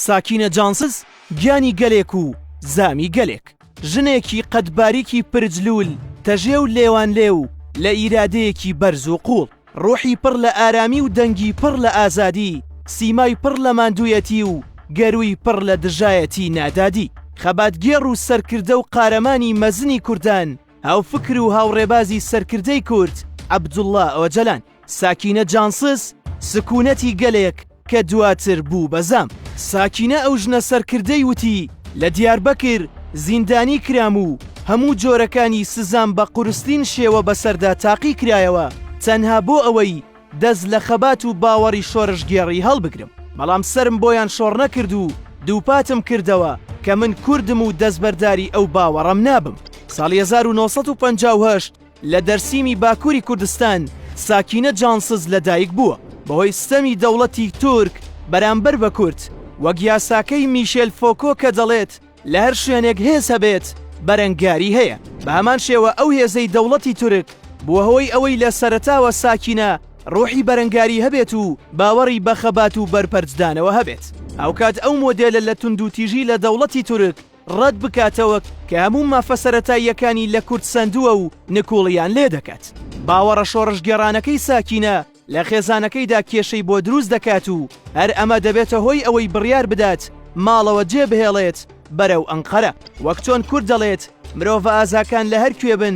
ساکینە جانسز گیانی گەلێک و زامی گەلێک. ژنێکی قەد باریکی پرجلول تەژێ و لێوانلێ و لە ئیرادەیەکی بەرز و قووڵ. ڕوحی پڕ لە ئارامی و دەنگی پڕ لە ئازادی، سیمای پڕ لە ماندوویەتی و گەرووی پڕ لە دژایەتی نادادی. خەباتگێڕ و سەرکردە و قارەمانی مەزنی کوردان، هاوفکر و هاوڕێبازی سەرکردەی کورد عەبدوڵا ئۆجەلان. ساکینە جانسز سکونەتی گەلێک کە دواتر بوو بە زام. ساکینە ئەو ژنە سەرکردەی وتی، لە دیاربەکر زیندانی کرام و هەموو جۆرەکانی سزام بە قورسترین شێوە بەسەردا تاقی کرایەوە تەنها بۆ ئەوەی دەست لە خەبات و باوەڕی شۆرشگێڕی هەڵبگرم، بەڵام سەرم بۆیان شۆڕنەکرد و دووپاتم کردەوە کە من کوردم و دەستبەرداری ئەو باوەڕەم نابم. ساڵی هەزار و نۆ سەد و پەنجا و هەشت لە دەرسیمی باکووری کوردستان ساکینە جانسز لەدایک بووە. بەهۆی ستەمی دەوڵەتی تورک بەرامبەر بە کورد، وەک یاساکەی میشێل فۆکۆ کە دەڵێت لە هەر شوێنێک هێز هەبێت بەرەنگاری هەیە، بە هەمان شێوە ئەو هێزەی دەوڵەتی تورک بووە هۆی ئەوەی لە سەرەتاوە ساکینە ڕۆحی بەرەنگاری هەبێت و باوەڕی بە خەبات و بەرپەرچدانەوە هەبێت. هاوکات ئەو مۆدێلە لە توندوتیژی لە دەوڵەتی تورک، ڕەت بکاتەوە کە هەموو مافە سەرەتاییەکانی لە کورد سەندووە و نکوڵیان لێ دەکات. باوەڕە شۆڕشگێڕانەکەی ساکینە لە خێزانەکەیدا کێشەی بۆ دروست دەکات و هەر ئەمە دەبێتە هۆی ئەوەی بڕیار بدات ماڵەوە جێ بهێڵێت بەرەو ئەنقەرە. وەک چۆن کورد دەڵێت مرۆڤە ئازاکان لە هەر کوێ بن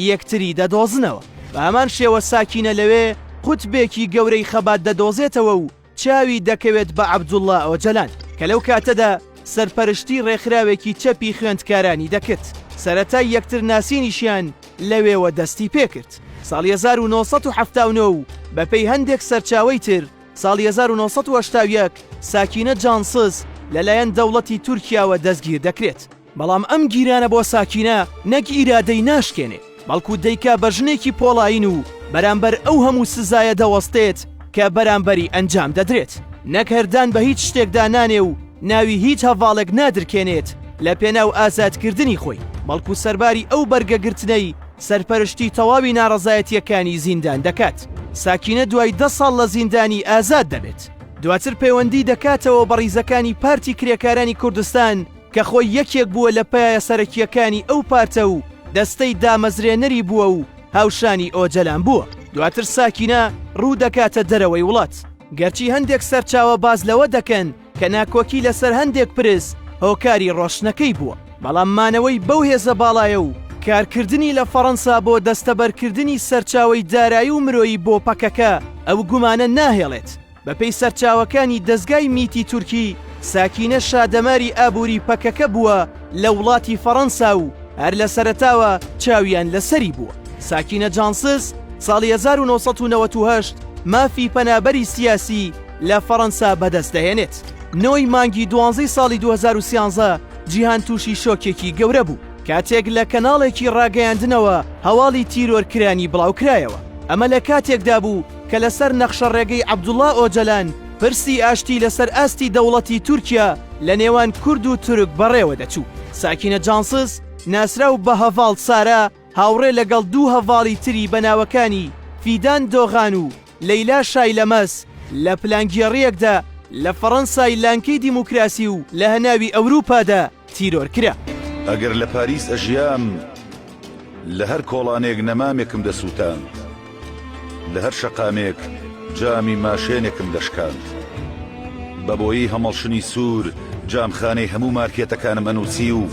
یەکتری دەدۆزنەوە. بە هەمان شێوە ساکینە لەوێ قوتبێکی گەورەی خەبات دەدۆزێتەوە و چاوی دەکەوێت بە عەبدوڵا ئۆجەلان کە لەو کاتەدا سەرپەرشتی ڕێکخراوێکی چەپی خوێندکارانی دەکرد، سەرەتای یەکتر ناسینیشیان لەوێوە دەستی پێکرد ساڵی هەزار و نۆ سەد و حەفتا و نۆ و بەپێی هەندێک سەرچاوەی تر ساڵی هەزار و نۆ سەد و هەشتا و یەک ساکینە جانسز لەلایەن دەوڵەتی تورکیاوە دەستگیر دەکرێت. بەڵام ئەم گیرانە بۆ ساکینە نەک ئیرادەی ناشکێنێ بەڵکو دەیکا بە ژنێکی پۆڵایین و بەرامبەر ئەو هەموو سزایە دەوەستێت کە بەرامبەری ئەنجام دەدرێت نەک هەر دان بە هیچ شتێکدا نانێ و ناوی هیچ هەڤاڵێک نادرکێنێت لە پێناو ئازادکردنی خۆی بەڵکو سەرباری ئەو بەرگە گرتنەی سەرپەرشتی تەواوی ناڕەزایەتیەکانی زیندان دەکات ساکینە دوای دە ساڵ لە زیندانی ئازاد دەبێت دواتر پەیوەندی دەکاتەوە بە ڕیزەکانی پارتی کرێکارانی کوردستان کە خۆی یەکێک بووە لە پایە سەرەکییەکانی ئەو پارتە و دەستەی دامەزرێنەری بووە و هاوشانی ئۆجەلان بووە. دواتر ساکینە ڕوو دەکاتە دەرەوەی وڵات، گەرچی هەندێک سەرچاوە باس لەوە دەکەن کە ناکۆکی لەسەر هەندێک پرس هۆکاری ڕۆشتنەکەی بووە، بەڵام مانەوەی بەو هێزە باڵایە و کارکردنی لە فەڕەنسا بۆ دەستەبەرکردنی سەرچاوەی دارایی و مرۆیی بۆ پەکەکە ئەو گومانە ناهێڵێت. بەپێی سەرچاوەکانی دەزگای میتی تورکی، ساکینە شا دەماری ئابووری پەکەکە بووە لە وڵاتی فەڕەنسا و هەر لە سەرەتاوە چاویان لەسەری بووە. ساکینە جانسز ساڵی 1998 مافی پەنابەری سیاسی لە فەڕەنسا بەدەست دەهێنێت. نۆی مانگی دوانزەی ساڵی 2013 جیهان تووشی شۆکێکی گەورە بوو کاتێک لە کەناڵێکی ڕاگەیاندنەوە هەواڵی تیرۆرکرانی بڵاوکرایەوە. ئەمە لە کاتێکدا بوو کە لەسەر نەخشە ڕێگەی عەبدوڵا ئۆجەلان پرسی ئاشتی لەسەر ئاستی دەوڵەتی تورکیا لە نێوان کورد و تورک بەڕێوە دەچوو. ساکینە جانسز، ناسراو بە هەڤاڵ سارا، هاوڕێ لەگەڵ دوو هەڤاڵی تری بە ناوەکانی فیدان دۆغان و لەیلا شایلەمەز لە پلانگێڕییەکدا لە فەڕەنسای لانکەی دیموکراسی و لە هەناوی ئەوروپادا، تیرۆر کرا. ئەگەر لە پاریس ئەژیام لە هەر کۆڵانێک نەمامێکم دەسووتاند، لە هەر شەقامێک جامی ماشێنێکم دەشکاند. بە بۆیەی هەمەڵشنی سوور جامخانەی هەموو مارکێتەکانم ئەنووسی و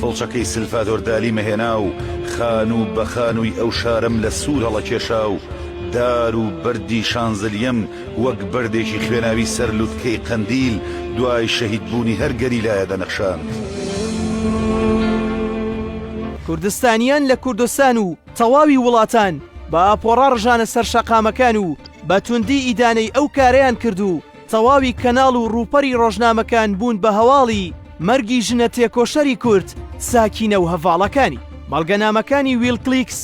فڵچەکەی سلفادۆر دالیمە هێنا و خانوو بە خانووی ئەو شارەم لە سوور هەڵەکێشا و دار و بەردی شانزلیەم وەک بەردێکی خوێناوی سەر لوتکەی قەندیل دوای شەهید بوونی هەر گەریلایە دەنەخشاند. کوردستانیان لە کوردستان و تەواوی وڵاتان بە ئاپۆڕا ڕژانە سەر شەقامەکان و بە توندی ئیدانەی ئەو کارەیان کرد و تەواوی کەناڵ و ڕووپەری ڕۆژنامەکان بوون بە هەواڵی مەرگی ژنە تێکۆشەری کورد ساکینە و هەڤاڵەکانی. بەڵگەنامەکانی ویلکلیکس،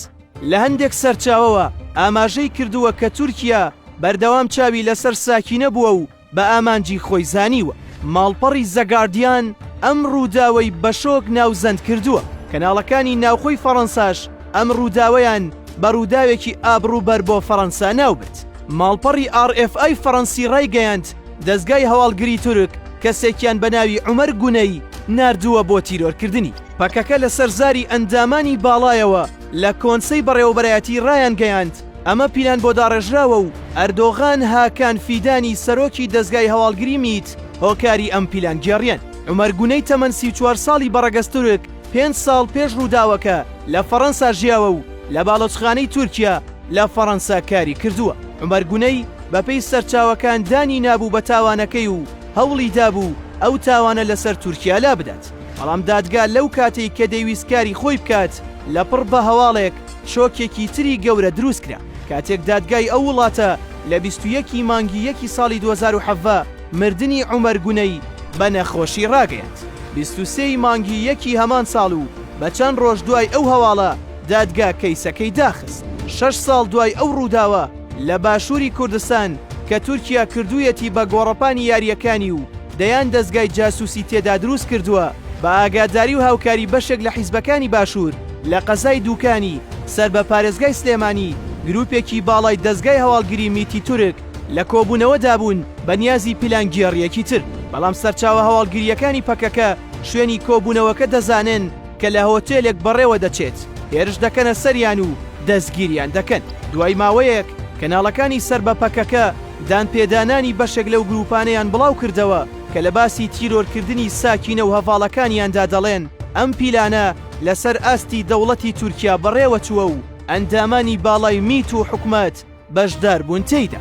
لە هەندێک سەرچاوەوە ئاماژەی کردووە کە تورکیا بەردەوام چاوی لەسەر ساکینە بووە و بە ئامانجی خۆی زانیوە. ماڵپەڕی زەگاردیان ئەم ڕووداوەی بە شۆک ناوزەند کردووە، کەناڵەکانی ناوخۆی فەڕەنساش ئەم ڕووداوەیان بە ڕووداوێکی ئابڕووبەر بۆ فەڕەنسا ناوبرد. ماڵپەڕی ئاڕ ئێف ئای فەڕەنسی ڕایگەیاند، دەزگای هەواڵگری تورک کەسێکیان بە ناوی عومەر گونەی ناردووە بۆ تیرۆرکردنی. پەکەکە لەسەر زاری ئەندامانی باڵایەوە لە کۆنسەی بەڕێوەبەرایەتی رایانگەیاند، ئەمە پیلان بۆ داڕێژراوە و ئەردۆغان هاکان فیدانی سەرۆکی دەزگای هەواڵگری میت هۆکاری ئەم پیلانگێڕیەن. عومەر گونەی تەمەن سی و چوار ساڵی بە ڕەگەز تورک پێنج ساڵ پێش رووداوەکە لە فەڕەنسا ژیاوە و لە باڵۆچخانەی تورکیا لە فەڕەنسا کاری کردووە. عومەر گونەی بەپێی سەرچاوەکان دانی نابوو بە تاوانەکەی و هەوڵی دابوو ئەو تاوانە لەسەر تورکیا لابدات. بەڵام دادگا لەو کاتەی کە دەیویست کاری خۆی بکات لەپڕ بە هەواڵێک شۆکێکی تری گەورە دروست کرا کاتێک دادگای ئەو وڵاتە لە بیست و یەک ی مانگی یەکی ساڵی دوو هەزار و حەڤدە مردنی عومەر گونەی بە نەخۆشی ڕاگەیاند بیست و سێ ی مانگی یەکی هەمان ساڵ و بە چەند ڕۆژ دوای ئەو هەواڵە دادگا کەیسەکەی داخست شەش ساڵ دوای ئەو ڕووداوە لە باشووری کوردستان کە تورکیا کردوویەتی بە گۆڕەپانی یارییەکانی و دەیان دەزگای جاسوسی تێدا دروست کردووە، بە ئاگاداری و هاوکاری بەشێک لە حیزبەکانی باشوور، لە قەزای دووکانی سەر بە پارێزگای سلێمانی گروپێکی باڵای دەزگای هەواڵگری میتی تورک لە کۆبوونەوەدا بوون بە نیازی پیلانگێڕییەکی تر، بەڵام سەرچاوە هەواڵگرییەکانی پەکەکە شوێنی کۆبوونەوەکە دەزانن کە لە هۆتێلێک بەڕێوە دەچێت، هێرش دەکەنە سەریان و دەستگیریان دەکەن. دوای ماوەیەک کەناڵەکانی سەر بە پەکەکە، دانپێدانانی بەشێک لەو گرووپانەیان بڵاو کردەوە کە لە باسی تیرۆرکردنی ساکینە و هەڤاڵەکانیاندا دەڵێن ئەم پیلانە لەسەر ئاستی دەوڵەتی تورکیا بەڕێوە چووە و ئەندامانی باڵای میت و حکومەت بەشدار بوون تێیدا.